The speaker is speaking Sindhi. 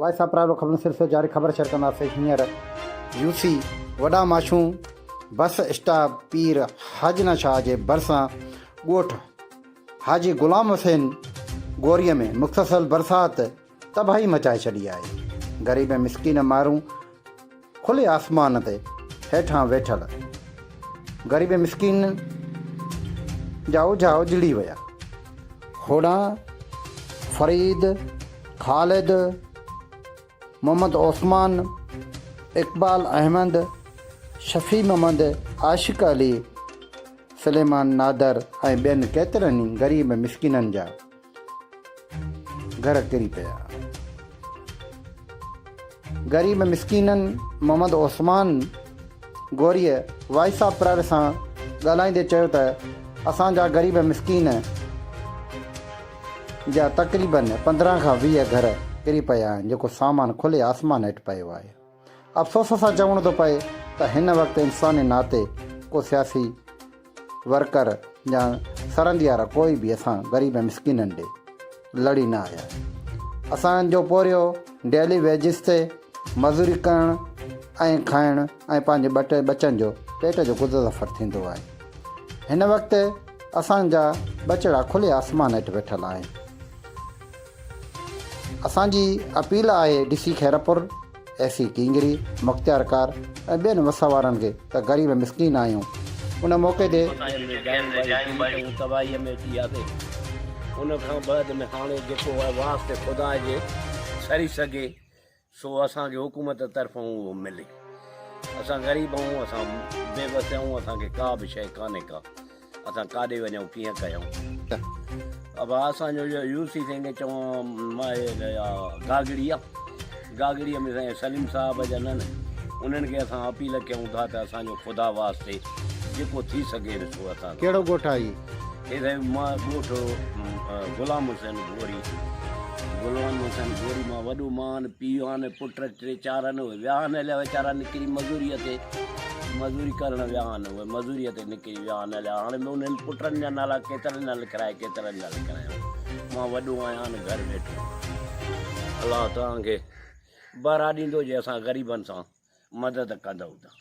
وائس آف پرائيويٽ خبرن سلسلو جاري خبر شيئر ڪنداسين هينئر يو سي وڏا ماشون بس اسٽاپ پير حاجنا شاهه جي ڀرسان ڳوٺ حاجي غلام حسين گوريء ۾ مختصل برسات تباهي مچائي ڇڏي آهي غريب ۽ مسڪين مارون کلي آسمان تي هيٺان ويٺل غريب مسڪينن جا اوجها اجڙي ويا. هوڏانهن فريد، خالد، محمد عثمان، اقبال احمد، شفيع محمد، عاشق علي، سليمان نادر ۽ ٻين ڪيترن ئي غريب مسڪينن جا گهر ڪري پيا. غريب مسڪينن محمد عثمان غوريء وائس آف پرائيوٽ سان ڳالهائيندي چيو ته اسان جا غريب مسڪين جا تقريبن پندرهن کان ويهه گهر ڪري پيا آهن جيڪو سامان کلي آسمان هيٺ پيو آهي. افسوس سان چوڻو ٿو پئي ته هن وقت انساني ناتي ڪو سياسي ورڪر يا سرنديار ڪوئي به اسان غريب ۽ مسڪينن ڏي لڙي نه آيا. اسان جو پورهيو ڊيلي ويجز تي مزوري ڪرڻ ۽ کائڻ ۽ پنهنجي ٻه ٽي ٻچن جو پيٽ جو گذر سفر ٿيندو آهي. هن وقت اسان جا ٻچڙا کلي آسمان هيٺ ويٺل آهن. اسان جي اپيل آهي D C Khairpur, A C Kingri, مختيارڪار ۽ ٻين وس وارن کي ته غريب مسڪين آهيون ان موقعي تي. ۽ ۾ جايون ٻاري ڪيون ۽ تباهيء ۾ ٿي آسي. ان کان بعد ۾ هاڻي جيڪو واسطي خدا جي سري سگهي. سو اسان کي حڪومت طرفان اهو ملي. اسان غريب آهيون، اسان بي وس آهيون، اسان کي ڪا به شيء ڪانهي ڪا. اسان ڪاڏي وڃون، ڪيئن ڪيون. اڀا اسان جو اهو يوسي سائين کي چوان مان اهي ته اها گاگڙي آ. گاگڙيء ۾ سائين سليم صاحب جا ننهن. انهن کي اسان اپيل ڪيون ٿا ته اسان جو خدا واسطي جيڪو ٿي سگهي سو اسان کي. ڪهڙو ڳوٺ آ هي؟ اي سائين مان ڳوٺ غلام حسين گوري غلام حسين گوري مان وڏو مان پيء آن پٽ ٽي چار آن اهي ويا آن هليا ويچارا نڪري مزوري تي مزوري ڪرڻ ويا آن اهي مزوري تي نڪري ويا آن هليا هاڻي به انهن پٽن جا نالا ڪيترن جا لکرائي ڪيترن جا لکرائي مان وڏو آهيان آن گهر ويٺو الله توهان کي بهرا ڏيندو جي اسان غريبن سان مدد ڪندؤ ته